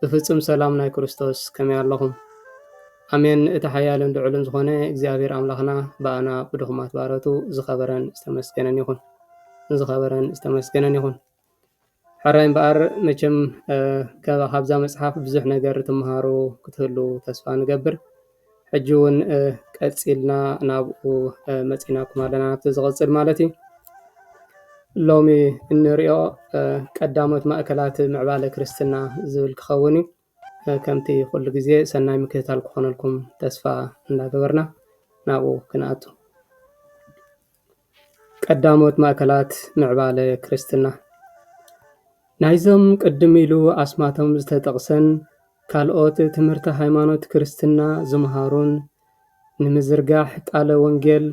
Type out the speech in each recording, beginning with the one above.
ብፍጹም ሰላም ናይ ክርስቶስ ከመይ ኣሎኹም ኣሜን እቲ ሓያልን ልዑልን ዝኾነ እግዚኣብሔር ኣምላኽና ብኣና ብድኹማት ባሮቱ ዝኸበረን ዝተመስገነን ይኹን ዝኸበረን ዝተመስገነን ይኹን ሕራይ እምበኣር መቸም ካብዛ መጽሓፍ ብዙሕ ነገር ትምሃሩ ክትህሉ ተስፋ ንገብር ሕጂ እውን ቀፂልና ናብኡ መፂናኩም ኣለና ናብቲ ዝቕፅል ማለት እዩ ሎሚ እንሪኦ ቀዳሞት ማእከላት ምዕባለ ክርስትና ዝብል ክኸውን እዩ ከምቲ ኩሉ ግዜ ሰናይ ምክትታል ክኾነልኩም ተስፋ እንዳገበርና ናብኡ ክንኣቱ ቀዳሞት ማእከላት ምዕባለ ክርስትና ናይዞም ቅድም ኢሉ ኣስማቶም ዝተጠቕሰን ካልኦት ትምህርተ ሃይማኖት ክርስትና ዝምሃሩን ንምዝርጋሕ ቃለ ወንጌል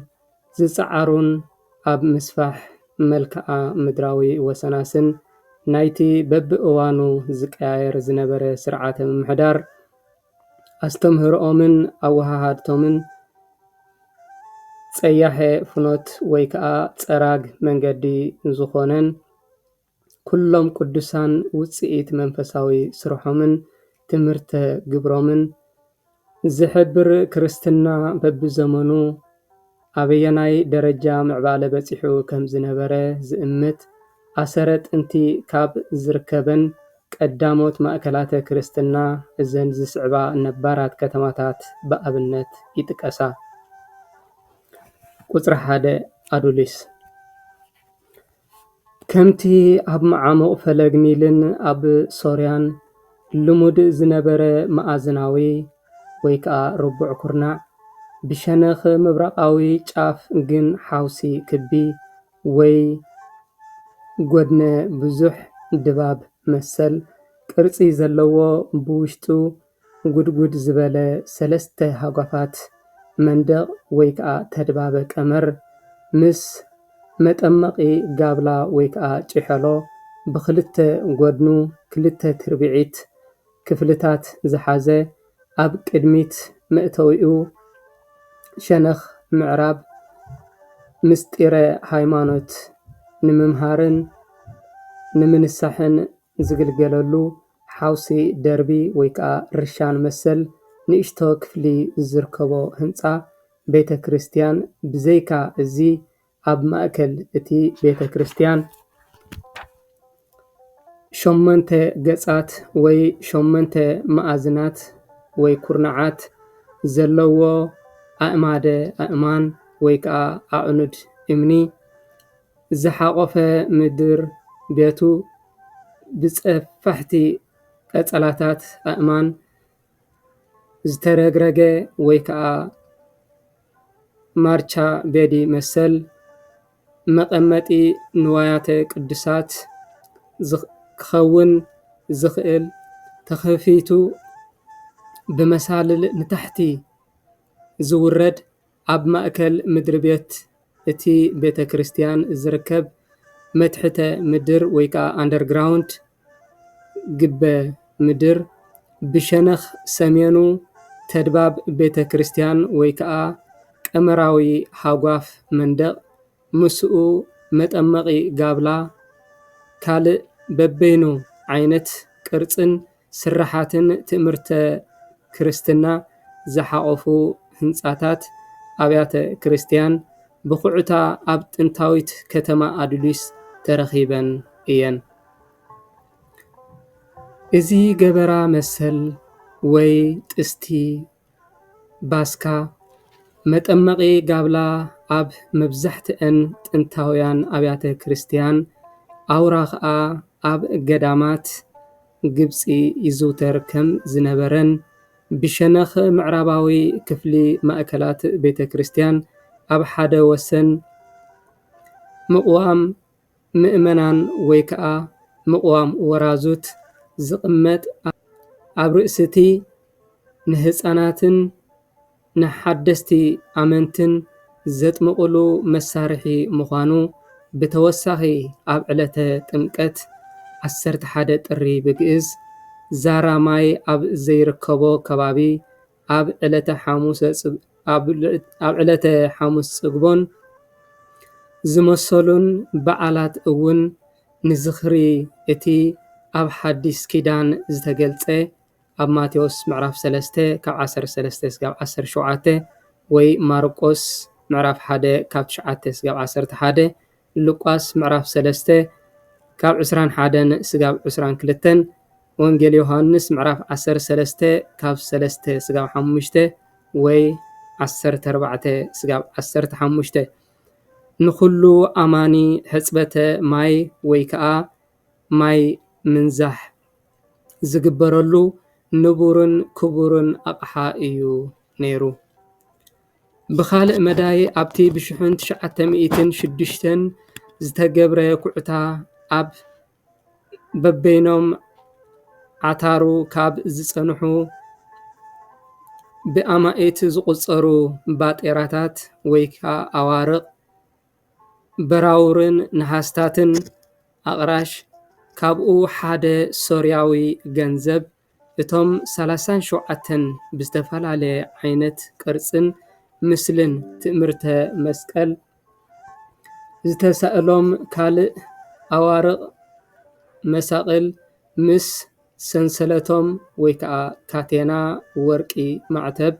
ዝጸዓሩን ኣብ ምስፋሕ መልክኣ ምድራዊ ወሰናስን ናይቲ በብእዋኑ ዝቀያየር ዝነበረ ስርዓተ ምምሕዳር ኣስተምህሮኦምን ኣወሃሃድቶምን ፀያሐ ፍኖት ወይ ከዓ ፀራግ መንገዲ ዝኾነን ኩሎም ቅዱሳን ውፅኢት መንፈሳዊ ስርሖምን ትምህርተ ግብሮምን ዝሕብር ክርስትና በቢዘመኑ ኣበየናይ ደረጃ ምዕባለ በጺሑ ከም ዝነበረ ዝእምት ኣሰረ ጥንቲ ካብ ዝርከበን ቀዳሞት ማእከላተ ክርስትና እዘን ዝስዕባ ነባራት ከተማታት ብኣብነት ይጥቀሳ። ቁጽሪ ሓደ ኣዱሊስ። ከምቲ ኣብ መዓሙቕ ፈለግ ኒልን ኣብ ሶርያን ልሙድ ዝነበረ መኣዝናዊ ወይ ከኣ ርቡዕ ኩርናዕ፣ ብሸነኽ ምብራቓዊ ጫፍ ግን ሓውሲ ክቢ ወይ ጐድነ-ብዙሕ ድባብ መሰል ቅርጺ ዘለዎ ብውሽጡ ጉድጉድ ዝበለ ሰለስተ ሃጓፋት መንደቕ ወይ ከዓ ተድባበ ቀመር ምስ መጠመቒ ጋብላ ወይ ከዓ ጭሔሎ ብኽልተ ጎድኑ ክልተ ትርብዒት ክፍልታት ዝሓዘ ኣብ ቅድሚት መእተዊኡ ሸነኽ ምዕራብ ምሥጢረ ሃይማኖት ንምምሃርን ንምንሳሕን ዝግልገለሉ ሓውሲ ደርቢ ወይ ከኣ ርሻን መሰል ንእሽቶ ክፍሊ ዝርከቦ ህንጻ ቤተ ክርስቲያን ብዘይካ እዚ ኣብ ማእከል እቲ ቤተ ክርስቲያን ሸሞንተ ገጻት ወይ ሸሞንተ መኣዝናት ወይ ኩርናዓት ዘለዎ ኣእማደ ኣእማን ወይ ከኣ ኣዕኑድ እምኒ ዝሓቖፈ ምድር ቤቱ ብጸፋሕቲ ቀጸላታት ኣእማን ዝተረግረገ ወይ ከኣ ማርቻ ቤዲ መሰል መቐመጢ ንዋያተ ቅዱሳት ክኸውን ዝኽእል ተኸፊቱ ብመሳልል ንታሕቲ ዝውረድ ኣብ ማእከል ምድሪ ቤት እቲ ቤተ ክርስትያን ዝርከብ መትሕተ ምድር ወይ ከኣ ኣንደር ግራውንድ ግበ ምድር ብሸነኽ ሰሜኑ ተድባብ ቤተ ክርስትያን ወይ ከኣ ቀመራዊ ሃጓፍ መንደቕ ምስኡ መጠመቒ ጋብላ ካልእ በበይኑ ዓይነት ቅርጽን ስርሓትን ትእምርተ ክርስትና ዝሓቖፉ ህንጻታት ኣብያተ ክርስቲያን ብዅዕታ ኣብ ጥንታዊት ከተማ ኣዱሊስ ተረኺበን እየን። እዚ ገበራ መሰል ወይ ጥስቲ ባስካ፣ መጠመቒ ጋብላ ኣብ መብዛሕትኣን ጥንታውያን ኣብያተ ክርስቲያን፣ ኣውራ ኸኣ ኣብ ገዳማት ግብጺ ይዝውተር ከም ዝነበረን ብሸነኽ ምዕራባዊ ክፍሊ ማእከላት ቤተ ክርስቲያን ኣብ ሓደ ወሰን ምቕዋም ምእመናን ወይ ከዓ ምቕዋም ወራዙት ዝቕመጥ ኣብ ርእሲ እቲ ንህፃናትን ንሓደስቲ ኣመንትን ዘጥምቕሉ መሳርሒ ምዃኑ ብተወሳኺ ኣብ ዕለተ ጥምቀት ዓሰርተ ሓደ ጥሪ ብግእዝ ዛራ ማይ ኣብ ዘይርከቦ ከባቢ ኣብ ዕለተ ሓሙሰ ኣብ ዕለተ ሓሙስ ፅግቦን ዝመሰሉን በዓላት እውን ንዝኽሪ እቲ ኣብ ሓዲስ ኪዳን ዝተገልፀ ኣብ ማቴዎስ ምዕራፍ ሰለስተ ካብ ዓሰርተ ሰለስተ ክሳብ ዓሰርተ ሸውዓተ ወይ ማርቆስ ምዕራፍ ሓደ ካብ ትሽዓተ ክሳብ ዓሰርተ ሓደ ሉቃስ ምዕራፍ ሰለስተ ካብ ዕስራን ሓደን ስጋብ ዕስራን ክልተን፣ ወንጌል ዮሃንስ ምዕራፍ ዓሰርተ ሰለስተ ካብ ሰለስተ ስጋብ ሓሙሽተ ወይ ዓሰርተ ኣርባዕተ ስጋብ ዓሰርተ ሓሙሽተ፣ ንኹሉ ኣማኒ ሕጽበተ ማይ ወይ ከኣ ማይ ምንዛሕ ዝግበረሉ ንቡርን ክቡርን ኣቕሓ እዩ ነይሩ። ብኻልእ መዳይ ኣብቲ ብሽሕን ትሽዓተ ሚእትን ሽዱሽተን ዝተገብረ ኩዕታ ኣብ በበይኖም ዓታሩ ካብ ዝፀንሑ ብኣማኢት ዝቑፀሩ ባጤራታት ወይ ከዓ ኣዋርቕ በራውርን ነሃስታትን ኣቕራሽ ካብኡ ሓደ ሶርያዊ ገንዘብ እቶም ሰላሳን ሸውዓተን ብዝተፈላለየ ዓይነት ቅርፅን ምስልን ትእምርተ መስቀል ዝተሳእሎም ካልእ ኣዋርቕ መሳቕል ምስ ሰንሰለቶም ወይ ከዓ ካቴና ወርቂ ማዕተብ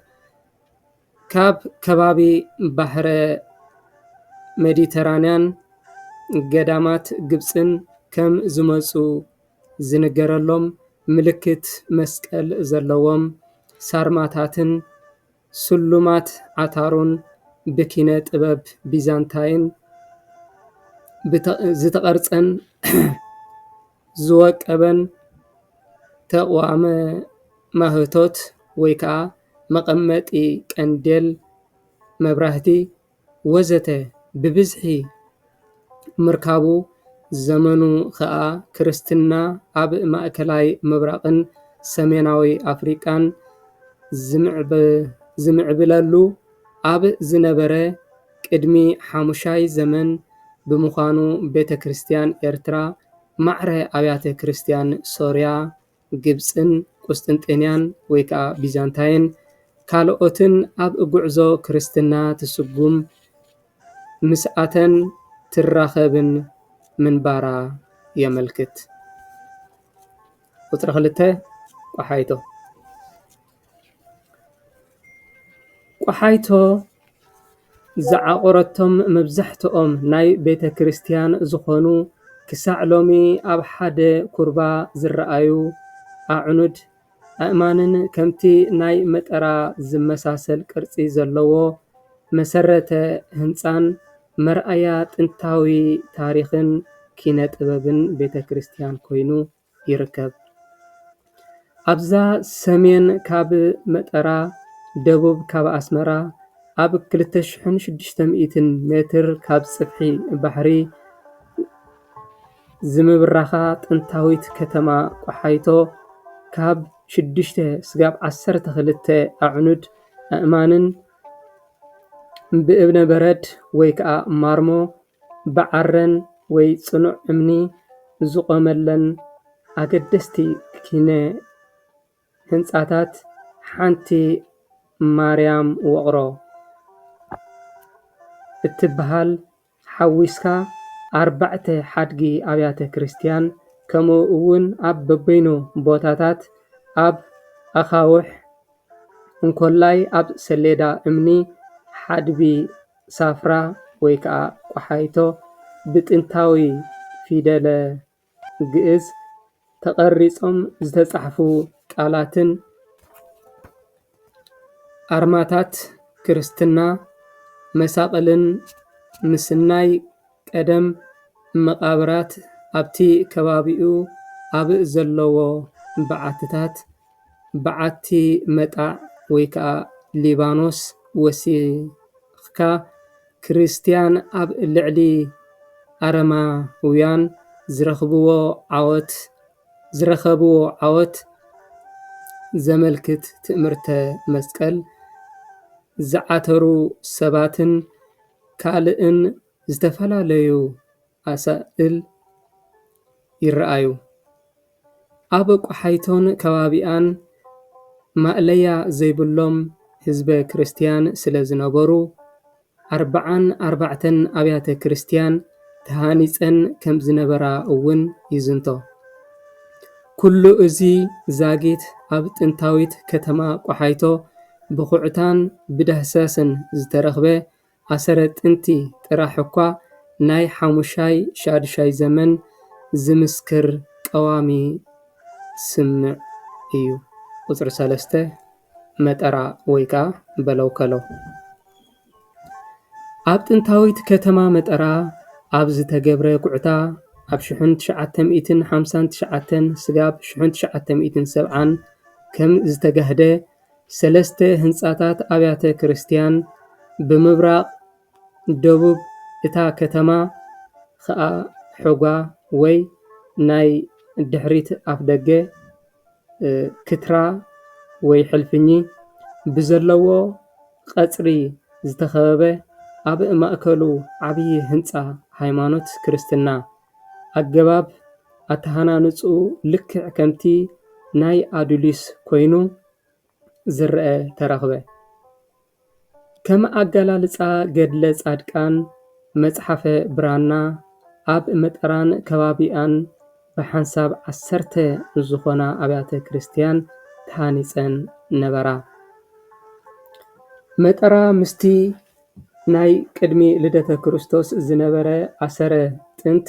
ካብ ከባቢ ባሕረ ሜዲትራንያን ገዳማት ግብፅን ከም ዝመፁ ዝንገረሎም ምልክት መስቀል ዘለዎም ሳርማታትን ስሉማት ዓታሮን ብኪነ ጥበብ ቢዛንታይን ዝተቐርፀን ዝወቀበን ተቋም ማህቶት ወይ ከዓ መቐመጢ ቀንዴል መብራህቲ ወዘተ ብብዝሒ ምርካቡ ዘመኑ ኸኣ ክርስትና ኣብ ማእከላይ ምብራቕን ሰሜናዊ ኣፍሪቃን ዝምዕብለሉ ኣብ ዝነበረ ቅድሚ ሓሙሻይ ዘመን ብምዃኑ ቤተ ክርስቲያን ኤርትራ ማዕረ ኣብያተ ክርስቲያን ሶርያ ግብጽን ቍስጥንጥንያን ወይ ከኣ ቢዛንታይን ካልኦትን ኣብ ጕዕዞ ክርስትና ትስጕም ምስኣተን ትራኸብን ምንባራ የመልክት። ቍጽሪ ክልተ፣ ቋሓይቶ። ቆሓይቶ ዝዓቖረቶም መብዛሕትኦም ናይ ቤተ ክርስትያን ዝኾኑ ክሳዕ ሎሚ ኣብ ሓደ ኩርባ ዝረኣዩ ኣዕኑድ ኣእማንን ከምቲ ናይ መጠራ ዝመሳሰል ቅርፂ ዘለዎ መሰረተ ህንፃን መርኣያ ጥንታዊ ታሪኽን ኪነ ጥበብን ቤተ ክርስትያን ኮይኑ፡፡ ይርከብ። ኣብዛ ሰሜን ካብ መጠራ ደቡብ ካብ ኣስመራ ኣብ ክልተ ሽሕን ሽዱሽተ ሚእትን ሜትር ካብ ፅፍሒ ባሕሪ ዝምብራኻ ጥንታዊት ከተማ ቆሓይቶ ካብ ሽዱሽተ ስጋብ ዓሰርተ ክልተ ኣዕኑድ ኣእማንን ብእምነ በረድ ወይ ከዓ ማርሞ ብዓረን ወይ ፅኑዕ እምኒ ዝቖመለን ኣገደስቲ ኪነ ህንፃታት ሓንቲ ማርያም ውቕሮ እትበሃል ሓዊስካ ኣርባዕተ ሓድጊ ኣብያተ ክርስቲያን ከምኡ እውን ኣብ በበይኑ ቦታታት ኣብ ኣኻውሕ እንኮላይ ኣብ ሰሌዳ እምኒ ሓድቢ ሳፍራ ወይ ከዓ ቆሓይቶ ብጥንታዊ ፊደለ ግእዝ ተቐሪፆም ዝተፃሕፉ ቃላትን ኣርማታት ክርስትና መሳቕልን ምስናይ ቀደም መቓብራት ኣብቲ ከባቢኡ ኣብ ዘለዎ በዓትታት በዓቲ መጣዕ ወይ ከኣ ሊባኖስ ወሲኽካ ክርስትያን ኣብ ልዕሊ ኣረማውያን ዝረኽብዎ ዓወት ዝረኸብዎ ዓወት ዘመልክት ትእምርተ መስቀል ዝዓተሩ ሰባትን ካልእን ዝተፈላለዩ ኣሳእል ይረኣዩ። ኣብ ቆሓይቶን ከባቢኣን ማእለያ ዘይብሎም ህዝበ ክርስትያን ስለ ዝነበሩ ኣርብዓን ኣርባዕተን ኣብያተ ክርስትያን ተሃኒጸን ከም ዝነበራ እውን ይዝንቶ። ኩሉ እዚ ዛጊት ኣብ ጥንታዊት ከተማ ቆሓይቶ ብኹዕታን ብዳህሳስን ዝተረኽበ ኣሰረ ጥንቲ ጥራሕ እኳ ናይ ሓሙሻይ ሻዱሻይ ዘመን ዝምስክር ቀዋሚ ስምዕ እዩ። ቁጽሪ ሰለስተ መጠራ ወይ ከኣ በለውከለው። ኣብ ጥንታዊት ከተማ መጠራ ኣብ ዝተገብረ ኩዕታ ኣብ ሽሕን ትሽዓተ ሚእትን ሓምሳን ትሽዓተን ስጋብ ሽሕን ትሽዓተ ሚእትን ሰብዓን ከም ዝተጋህደ ሰለስተ ህንጻታት ኣብያተ ክርስትያን ብምብራቕ ደቡብ እታ ከተማ ኸኣ ሑጓ ወይ ናይ ድሕሪት ኣፍደገ ክትራ ወይ ሕልፍኚ ብዘለዎ ቐጽሪ ዝተኸበበ ኣብ ማእከሉ ዓብዪ ህንጻ ሃይማኖት ክርስትና። ኣገባብ ኣተሃናንጽኡ ልክዕ ከምቲ ናይ ኣዱሊስ ኮይኑ ዝረኣ ተረኽበ። ከም ኣገላልጻ ገድለ ጻድቃን መጽሓፈ ብራና ኣብ መጠራን ከባቢኣን ብሓንሳብ ዓሰርተ ዝኾና ኣብያተ ክርስቲያን ተሃኒጸን ነበራ። መጠራ ምስቲ ናይ ቅድሚ ልደተ ክርስቶስ ዝነበረ ኣሰረ ጥንት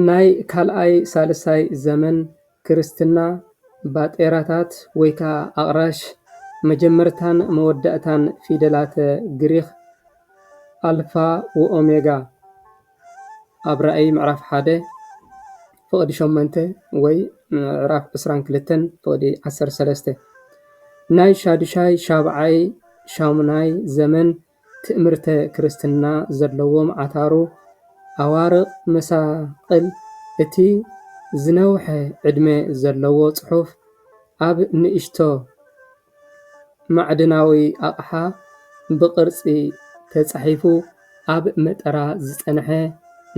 ናይ ካልኣይ ሳልሳይ ዘመን ክርስትና ባጤራታት ወይ ከዓ ኣቅራሽ መጀመርታን መወዳእታን ፊደላተ ግሪኽ ኣልፋ ወኦሜጋ። ኣብ ራእይ ምዕራፍ ሓደ ፍቕዲ ሸሞንተ ወይ ምዕራፍ ዕስራን ክልተን ፍቕዲ ዓሰርተ ሰለስተ ናይ ሻዱሻይ ሻብዓይ ሻሙናይ ዘመን ትእምርተ ክርስትና ዘለዎም ዓታሩ ኣዋርቕ መሳቕል እቲ ዝነውሐ ዕድመ ዘለዎ ጽሑፍ ኣብ ንእሽቶ ማዕድናዊ ኣቕሓ ብቕርፂ ተፃሒፉ ኣብ መጠራ ዝፀንሐ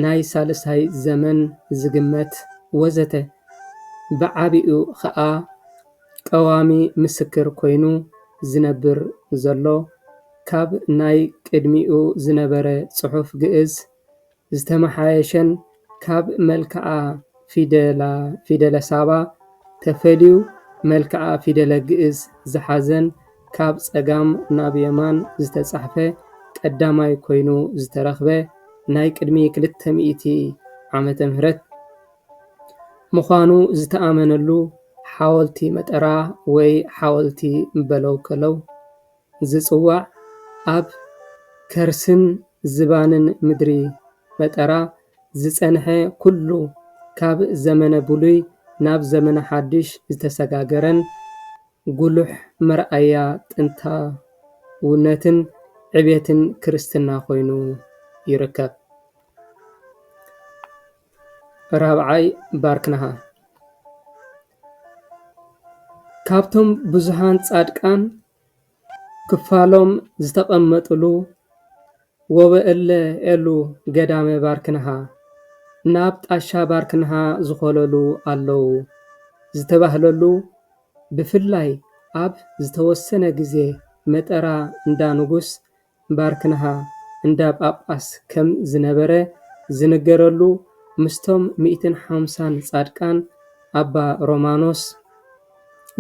ናይ ሳልሳይ ዘመን ዝግመት ወዘተ ብዓብኡ ኸዓ ቀዋሚ ምስክር ኮይኑ ዝነብር ዘሎ ካብ ናይ ቅድሚኡ ዝነበረ ፅሑፍ ግእዝ ዝተመሓየሸን ካብ መልክዓ ፊደለ ሳባ ተፈልዩ መልክዓ ፊደለ ግእዝ ዝሓዘን ካብ ፀጋም ናብ የማን ዝተፃሕፈ ቀዳማይ ኮይኑ ዝተረኽበ ናይ ቅድሚ ክልተ ሚእቲ ዓመተ ምህረት ምዃኑ ዝተኣመነሉ ሓወልቲ መጠራ ወይ ሓወልቲ በለውከለው ዝጽዋዕ ኣብ ከርስን ዝባንን ምድሪ ፈጠራ ዝጸንሐ ኩሉ ካብ ዘመነ ብሉይ ናብ ዘመነ ሓድሽ ዝተሰጋገረን ጉሉሕ መርኣያ ጥንታውነትን ዕቤትን ክርስትና ኮይኑ ይርከብ። ራብዓይ ባርክናሃ። ካብቶም ብዙሓን ፃድቃን ክፋሎም ዝተቀመጥሉ ወበእለ ኤሉ ገዳመ ባርክንሃ ናብ ጣሻ ባርክንሃ ዝኮለሉ ኣለው ዝተባህለሉ ብፍላይ ኣብ ዝተወሰነ ግዜ መጠራ እንዳ ንጉስ ባርክንሃ እንዳ ጳጳስ ከም ዝነበረ ዝንገረሉ ምስቶም ሚእትን ሓምሳን ጻድቃን ኣባ ሮማኖስ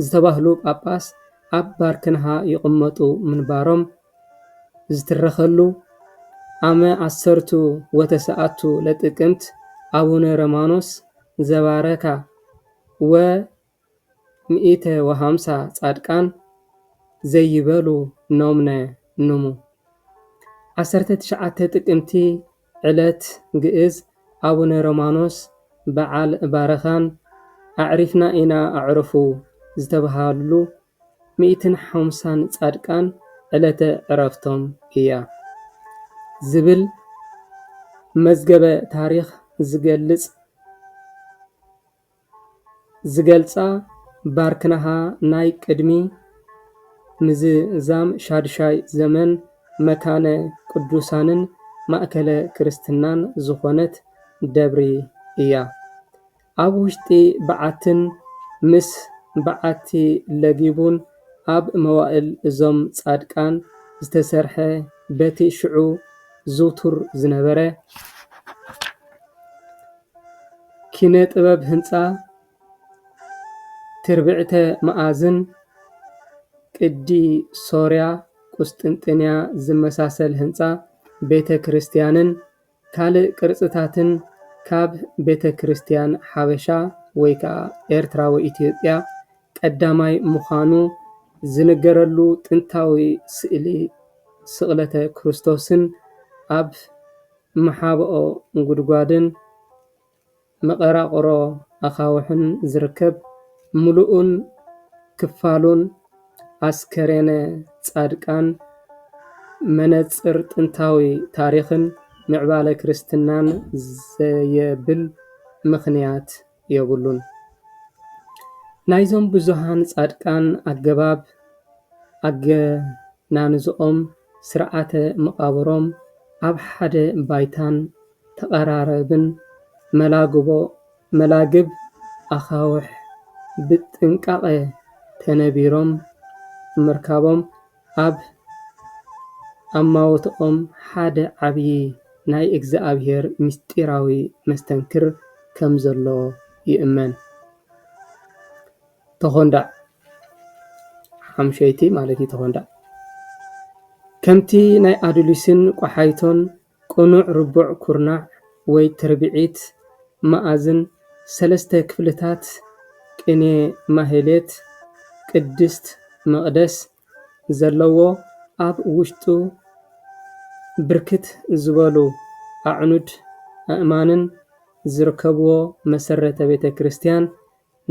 ዝተባህሉ ጳጳስ ኣብ ባርክንሃ ይቕመጡ ምንባሮም ዝትረኸሉ ኣመ ዓሰርቱ ወተሰኣቱ ለጥቅምት ኣቡነ ረማኖስ ዘባረካ ወ ሚኢተ ወሃምሳ ጻድቃን ዘይበሉ ኖምነ ኑሙ። ዓሰርተ ትሽዓተ ጥቅምቲ ዕለት ግእዝ ኣቡነ ሮማኖስ በዓል ባረኻን ኣዕሪፍና ኢና ኣዕሩፉ ዝተብሃልሉ ሚኢትን ሓምሳን ጻድቃን ዕለተ ዕረፍቶም እያ ዝብል መዝገበ ታሪኽ ዝገልጽ ዝገልጻ ባርክናሃ ናይ ቅድሚ ምዝዛም ሻድሻይ ዘመን መካነ ቅዱሳንን ማእከለ ክርስትናን ዝኾነት ደብሪ እያ። ኣብ ውሽጢ በዓትን ምስ በዓቲ ለጊቡን ኣብ መዋእል እዞም ጻድቃን ዝተሰርሐ በቲ ሽዑ ዝውቱር ዝነበረ ኪነ ጥበብ ህንፃ ትርብዕተ መኣዝን ቅዲ ሶርያ ቁስጥንጥንያ ዝመሳሰል ህንፃ ቤተ ክርስቲያንን ካልእ ቅርፅታትን ካብ ቤተ ክርስቲያን ሓበሻ ወይ ከዓ ኤርትራዊ ኢትዮጵያ ቀዳማይ ምዃኑ ዝንገረሉ ጥንታዊ ስእሊ ስቕለተ ክርስቶስን ኣብ መሓብኦ ጉድጓድን መቐራቕሮ ኣኻውሕን ዝርከብ ምሉእን ክፋሉን ኣስከሬነ ጻድቃን፣ መነጽር ጥንታዊ ታሪኽን ምዕባለ ክርስትናን ዘየብል ምኽንያት የብሉን። ናይዞም ብዙኃን ጻድቃን ኣገባብ ኣገናንዝኦም ስርዓተ መቓብሮም ኣብ ሓደ ባይታን ተቐራራብን መላግቦ፣ መላግብ፣ ኣኻውሕ ብጥንቃቐ ተነቢሮም ምርካቦም ኣብ ኣማውትኦም ሓደ ዓብዪ ናይ እግዚኣብሔር ምስጢራዊ መስተንክር ከም ዘሎ ይእመን። ተኾንዳዕ ሓምሸይቲ ማለት እዩ ተኾንዳዕ ከምቲ ናይ ኣዱሊስን ቆሓይቶን ቅኑዕ ርቡዕ ኩርናዕ ወይ ትርብዒት መኣዝን ሰለስተ ክፍልታት ቅኔ ማህሌት ቅድስት መቕደስ ዘለዎ ኣብ ውሽጡ ብርክት ዝበሉ ኣዕኑድ ኣእማንን ዝርከብዎ መሰረተ ቤተ ክርስቲያን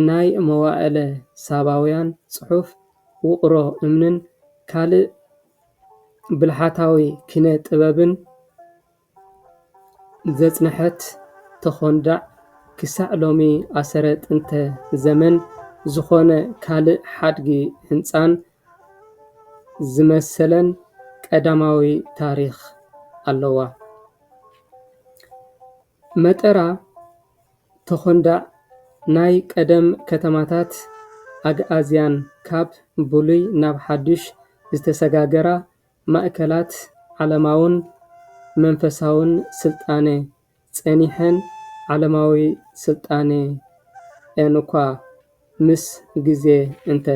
ናይ መዋእለ ሳባውያን ጽሑፍ፣ ውቕሮ እምንን ካልእ ብልሓታዊ ኪነ ጥበብን ዘጽንሐት ተዀንዳዕ፣ ክሳዕ ሎሚ ኣሰረ ጥንተ ዘመን ዝዀነ ካልእ ሓድጊ ህንጻን ዝመሰለን ቀዳማዊ ታሪኽ ኣለዋ። መጠራ ተኾንዳዕ ናይ ቀደም ከተማታት ኣግኣዝያን ካብ ብሉይ ናብ ሓዱሽ ዝተሰጋገራ ማእከላት ዓለማውን መንፈሳውን ስልጣነ ጸኒሐን ዓለማዊ ስልጣኔኣን'ኳ ምስ ግዜ እንተ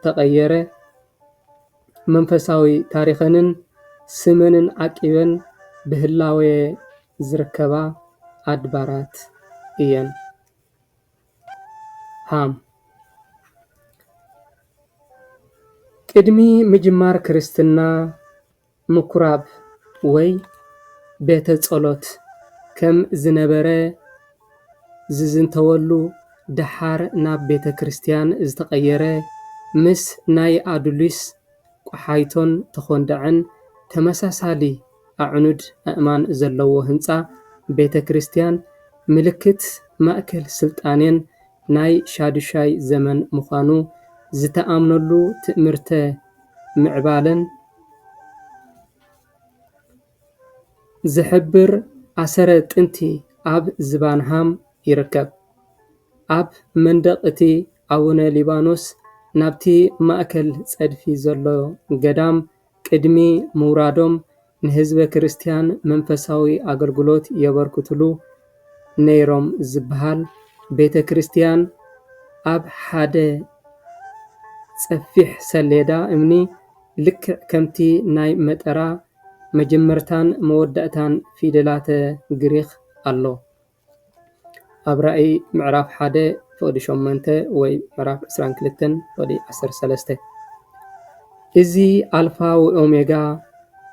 ተቐየረ መንፈሳዊ ታሪኸንን ስመንን ዓቂበን ብህላዌ ዝርከባ ኣድባራት እየን። ሃም። ቅድሚ ምጅማር ክርስትና ምኩራብ ወይ ቤተ ጸሎት ከም ዝነበረ ዝዝንተወሉ ደሓር ናብ ቤተ ክርስቲያን ዝተቐየረ ምስ ናይ ኣዱሊስ፣ ቆሓይቶን ተኾንዳዕን ተመሳሳሊ ኣዕኑድ ኣእማን ዘለዎ ህንጻ ቤተ ክርስቲያን ምልክት ማእከል ስልጣኔን ናይ ሻዱሻይ ዘመን ምዃኑ ዝተኣምነሉ ትእምርተ ምዕባለን ዝሕብር ኣሰረ ጥንቲ ኣብ ዝባን ሃም ይርከብ። ኣብ መንደቕ እቲ ኣቡነ ሊባኖስ ናብቲ ማእከል ጸድፊ ዘሎ ገዳም ቅድሚ ምውራዶም ንህዝበ ክርስትያን መንፈሳዊ ኣገልግሎት የበርክትሉ። ነይሮም ዝበሃል ቤተ ክርስቲያን ኣብ ሓደ ጸፊሕ ሰሌዳ እምኒ ልክዕ ከምቲ ናይ መጠራ መጀመርታን መወዳእታን ፊደላተ ግሪኽ ኣሎ። ኣብ ራእይ ምዕራፍ ሓደ ፍቕዲ ሸሞንተ ወይ ምዕራፍ ዕስራን ክልተን ፍቕዲ ዓሰርተ ሰለስተ። እዚ ኣልፋ ወኦሜጋ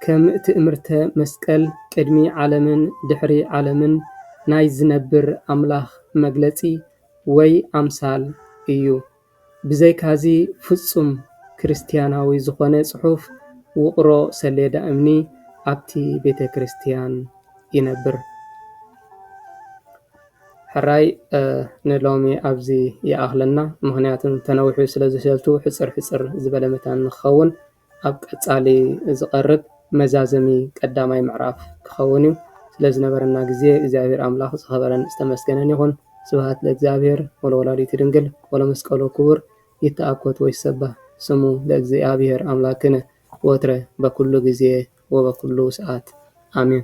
ከም ትእምርተ መስቀል ቅድሚ ዓለምን ድሕሪ ዓለምን ናይ ዝነብር ኣምላኽ መግለጺ ወይ ኣምሳል እዩ። ብዘይካዚ ፍጹም ክርስትያናዊ ዝኾነ ጽሑፍ ውቕሮ ሰሌዳ እምኒ ኣብቲ ቤተ ክርስትያን ይነብር። ሕራይ ንሎሚ ኣብዚ ይኣኽለና ምኽንያቱ ተነዊሑ ስለዝሸቱ ሕጽር ሕጽር ዝበለ መታን ንክኸውን ኣብ ቀጻሊ ዝቐርብ መዛዘሚ ቀዳማይ ምዕራፍ ክኸውን እዩ ስለዝነበረና ግዜ እግዚኣብሔር ኣምላኽ ዝኸበረን ዝተመስገነን ይኹን ስብሃት ለእግዚኣብሔር ወለወላዲቱ ድንግል ወለመስቀሉ ክቡር ይተኣኮት ወይሰባህ ስሙ ለእግዚኣብሔር ኣምላክነ ወትረ በኩሉ ግዜ ወበኩሉ ሰዓት ኣሜን።